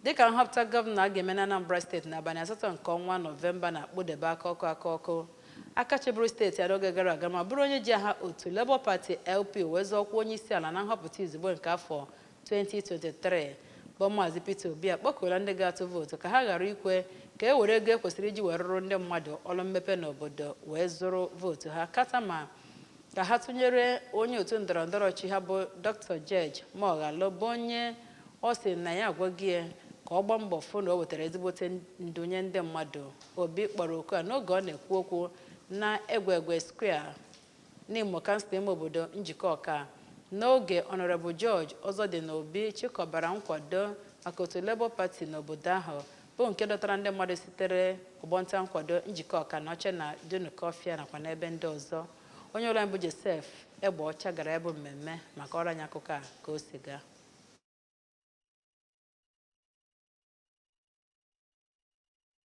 Dịka nhọpụta gọvanọ a ga-eme n'Anambra steeti n'abalị asatọ nke ọnwa Nọvemba na-akpụdebe aka ọkụ aka ọkụ, aka chịburu steeti a n'oge gara aga ma bụrụ onye ji aha otu Labour Party, LP, wee zọọ ọkwa onyeisiala na nhọpụta izugbe nke afọ 2023, bụ Maazị Peter Obi akpọkuola ndị ga-atụ vootu ka ha ghara ikwe ka e were ego e kwesịrị iji wee rụrụ ndị mmadụ ọrụ mmepe n'obodo wee zụrụ vootu ha, kata ma ka ha tụnyere onye otu ndọrọndọrọ ọchịchị ha bụ Dr. George Moghalu bụ onye ọ sị na ya agwago ya ka ọ gbaa mbọ fụ na o wetara ezigbote ndu nye ndị mmadụ Obi kpọrọ oku a n'oge ọ na-ekwu okwu na Egwegwe Square Nimo kansụl ime obodo Njikọka n'oge Honorable George Ozodinobi chịkọbara nkwado maka otu Labour Party n'obodo ahụ bụ nke dọtara ndị mmadụ sitere ọgbọnta nkwado Njikọka Anaọcha na Dunukọfịa nakwa n'ebe ndị ọzọ onye ọrụ anyị bụ Joseph Egbeọcha gara ya bụ mmemme ma kọọrọ anyị akụkọ a ka o si gaa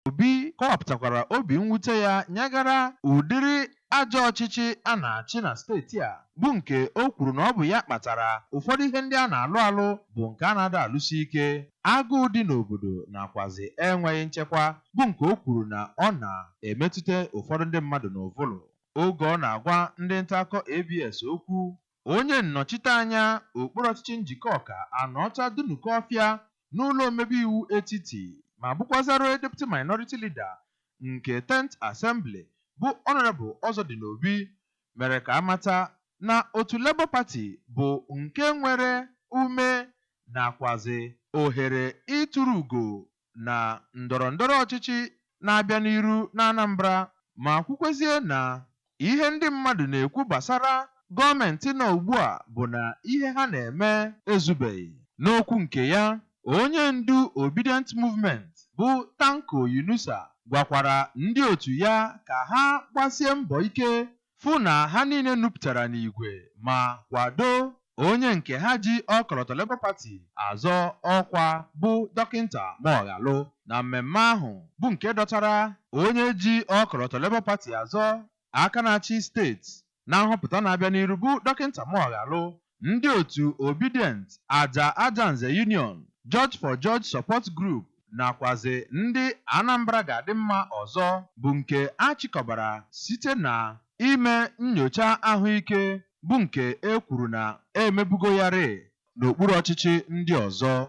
Obi kọwapụtakwara obi mwute ya nyegara ụdịrị ajọ ọchịchị a na-achị na steeti a bụ nke o kwuru na ọ bụ ya kpatara ụfọdụ ihe ndị a na-alụ alụ bụ nke a na-ada alụsi ike, agụụ dị n'obodo nakwazị enweghị nchekwa bụ nke o kwuru na ọ na-emetụta ụfọdụ ndị mmadụ n'ụvụlụ. Oge ọ na-agwa ndị ntaakụkọ ABS okwu, Onye nnọchite anya okpuru ọchịchị Njikọka Anaọcha Dunukọfịa n'ụlọ omebe iwu etiti ma bụkwazịrị Deputy Minority Leader nke Tenth Assembly bụ Honourable Ozodinobi mere ka a mata na otu Labour Party bụ nke nwere ume nakwazị ohere ituru ugo na ndọrọndọrọ ọchịchị na-abịa n'iru n'Anambra ma kwukwezie na ihe ndị mmadụ na-ekwu gbasara gọọmentị nọ ugbua bụ na ihe ha na-eme ezubeghị. N'okwu nke ya, onye ndu Obidient Movement bụ Tanko Yunusa gwakwara ndị otu ya ka ha gbasie mbọ ike fụ na ha niile nupụtara n'igwe ma kwado onye nke ha ji ọkọlọtọ Labour Party azọ ọkwa bụ Dọkịnta Moghalu na mmemme ahụ bụ nke dọtara onye ji ọkọlọtọ Labour Party azọ aka na-achị steeti na nhọpụta na-abịa n'iru bụ Dọkịnta Moghalu ndị otu Obidient, Aja Ajanze Union, George for George Support Group nakwazị ndị Anambra Ga-adị Mma ọzọ bụ nke a chịkọbara site na ime nnyocha ahụike bụ nke e kwuru na e mebugo ya rịị n'okpuru ọchịchị ndị ọzọ.